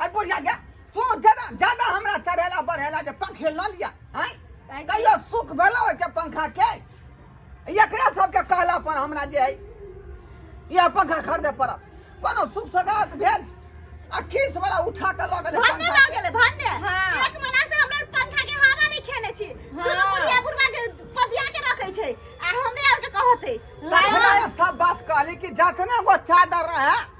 अरे बुढ़िया गे तू ज्यादा ज्यादा हमरा चढ़ेला बढ़ेला जे पंखे ल लिया हैं काहे कि- कहियो सुख भेलो के पंखा के एकरा सबके कहला पर हमरा जे है यह पंखा खरीदे पड़त कोनो सुख सगात भेल आ खीस वाला उठा के लऽ गेलै भन्ने पंखा लऽ के। गेलै भन्ने हाँ। एक महीना से हमरा पंखा के हवा नहि खेने छी हाँ। दुनू बुढ़िया बुढ़वा के पजिया के रखै छै आ हमरे आर के कहतै तखने ने सब बात कहली कि जखने वो चादर रहे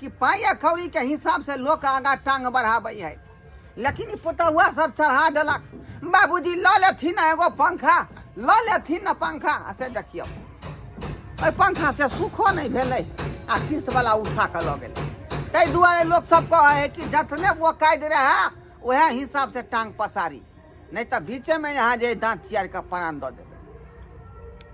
कि पाइ आ कौड़ीके हिसाबसँ लोक आगाँ टाँग बढ़ाबै है लेकिन ई पुतहुआ सब चढ़ा देलक बाबूजी लऽ लेथिन एगो पंखा लऽ लेथिन ने पंखा आ से देखियौ ओहि पंखा से सुखो नहि भेलै आ किस्तवला उठा कऽ लऽ गेलै ताहि दुआरे लोक सब कहै है कि जतने वो कैद रहै उएह हिसाबसँ टाँग पसारी नहि तऽ बीचेमे यहाँ जे दाँत चियार कऽ प्राण दऽ देबै